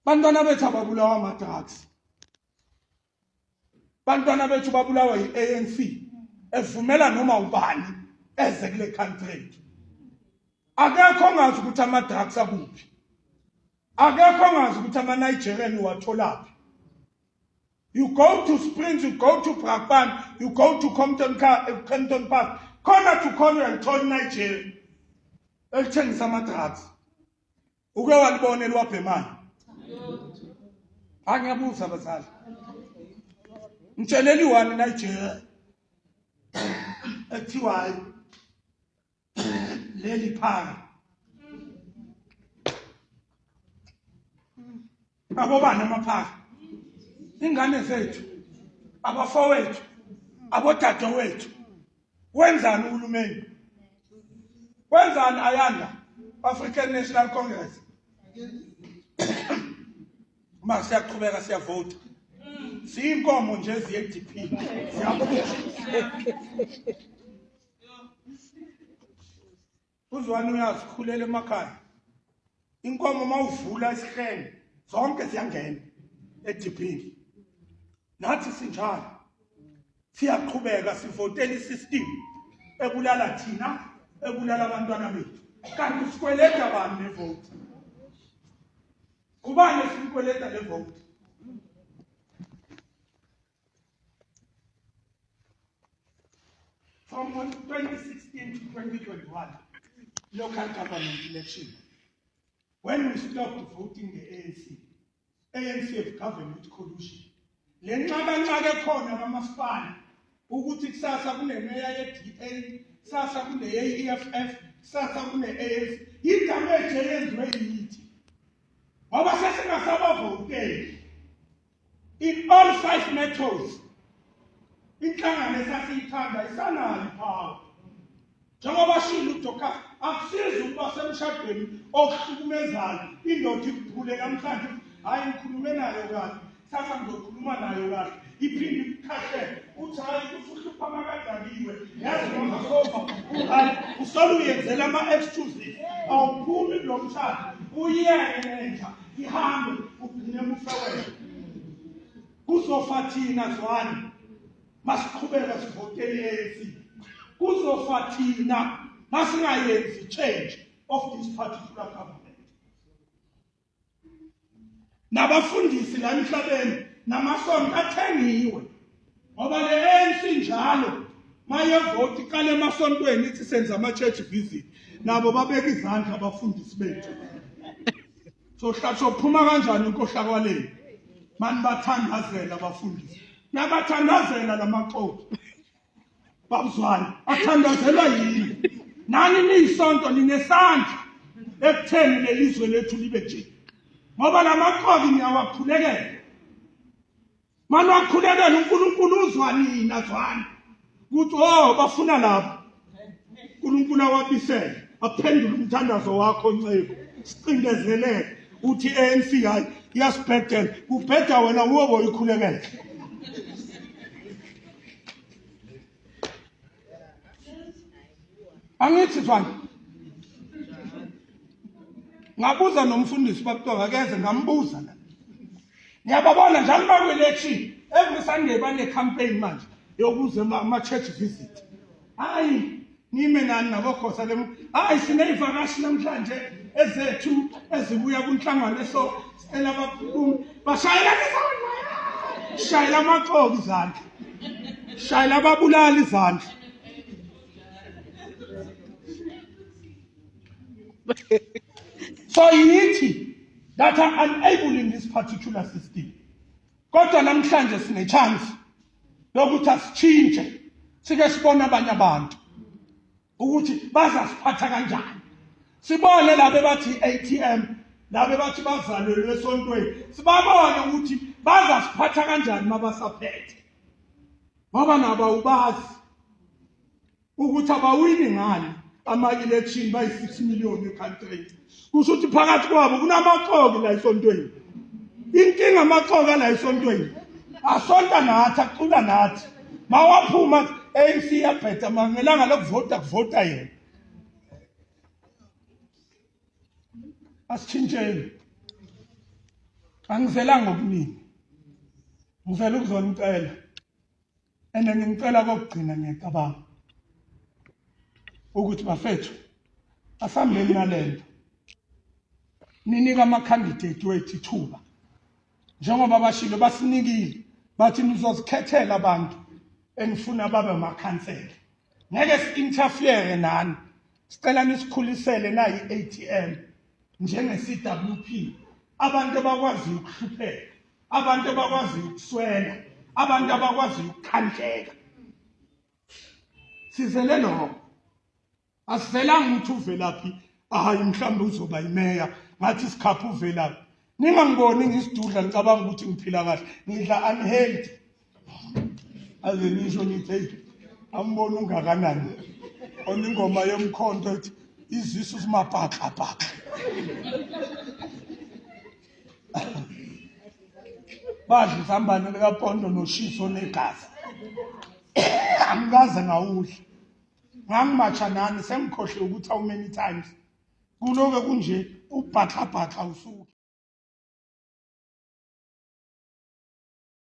bantwana bethu ababulawa ama drugs bantwana bethu babulawa yi ANC evumela noma ubani eze kule country akekho ongazi ukuthi ama drugs akuphi akekho ongazi ukuthi ama Nigerian watholaphi you go to Springs you go to Brakpan you go to Compton Car eh, Compton Park khona to khona uyalithola Nigeria elithengisa ama drugs uke walibona eliwabhemayo angiyabuza abazali ngitsheleni wani nigeria ekuthiwayo leli phaka babobani amaphara ingane zethu abafowethu abodadewethu wenzani uhulumeni wenzani ayanda African National Congress uma siyaqhubeka siyavota siyinkomo nje ziye-dp siyaphusha uzwani uyazikhulela emakhaya inkomo uma uvula isihlenge zonke ziyangena ediphini nathi sinjalo siyaqhubeka sivotela isystem ebulala thina ebulala abantwana bethu kanti sikweleta bani nevoti kubani esiyikweleta le voti From 2016 to 2021, local government election, when we stopped voting the ANC, ANC have governed with collusion. Le nxakanxaka ekhona kamasipala ukuthi kusasa kunemeya ye-DA, kusasa kune-AEFF, kusasa kune-ANC, yidamage eyenziwe yithi. Ngoba sesingasabavoteli. In all five metals, inhlangano esasiyithanda isanayo iphawu. Njengoba shilo uDoka akusizi ukuba semshadweni okuhlukumezayo indoda ikuphule namhlanje hayi ngikhulume nayo kahle thatha ngizokhuluma nayo kahle iphinde ikukhahle uthi hayi usuhlupha makadakiwe yazi nongasofa hayi usole uyenzela ama-excuses awuphumi kulo mshado uyeke nenja ihambe ugcine mufe wena kuzofa thina zwani masiqhubeka sivotele ANC kuzofa thina masingayenzi change of this particular government nabafundisi la emhlabeni namasonto athengiwe ngoba le ANC njalo mayevoti iqale emasontweni ithi senza ama-church visit nabo babeka izandla abafundisi bethu sohlasophuma kanjani inkohlakwaleni mani bathandazela abafundisi nabathandazela la maxoki babuzwane athandazelwa yini nani niyisonto ninesandla ekutheni leli zwe lethu libe nje ngoba la maxoki niyawakhulekela Manje wakhulekela uNkulunkulu uzwa nina zwani. Kuthi oh bafuna lapha. uNkulunkulu awabisele aphendule umthandazo wakho nceku. Sicindezeleke uthi ANC hayi iyasibhedela kubheda wena uwe boyikhulekela. angithi zwana ngabuza nomfundisi bakutoka akeze ngambuza la niyababona njalo bakwelethi every sunday bane-campaign manje yokuze ama-church visit hayi nime nani nabokhosa lem hayi sineyivakashi namhlanje ezethu ezibuya kunhlangano eso cela abaphume bashayela izandla shayela amaxoki izandla shayela ababulali izandla so yithi that are unable this particular system kodwa namhlanje sine chance lokuthi asitshintshe sike sibone abanye abantu ukuthi bazasiphatha kanjani sibone labo ebathi ATM labo ebathi bazalelwe esontweni sibabone ukuthi bazasiphatha kanjani mabasaphethe ngoba nabo awubazi ukuthi abawini ngani ama-election bayi-6 million ekhantrini kusho ukuthi phakathi kwabo kunamaxoki la esontweni inkinga amaxoki ala esontweni asonta nathi acula nathi mawaphuma ANC yabheda mangelanga lokuvota kuvota yena asithintsheni angizelanga okuningi ngizela ukuzona impela and ngicela kokugcina ngiyacabanga ukuthi bafethu asambeni nalento ninika ama candidate wethu ithuba njengoba bashilo basinikile bathi nizozikhethela abantu enifuna babe amakhansela ngeke si-interfere nani sicela nisikhulisele nayi ATM njenge CWP abantu abakwazi ukuhlupheka abantu abakwazi ukuswela abantu abakwazi ukukhandleka sizele noko asizelanga ukuthi uvelaphi hayi mhlawumbe uzoba yimeya ngathi sikhapha uvelaphi ningangiboni ngisidudla ngicabanga ukuthi ngiphila kahle ngidla unhealthy aze nisho nithi eyi ambona ungakanani oningoma yomkhonto ethi izisu simaphaxaphaxa badla isambane likapondo noshiso negazi angikaze ngawudla ngangimatsha nani sengikhohle ukuthi how many times kuloke kunje ubhaxabhaxa usuke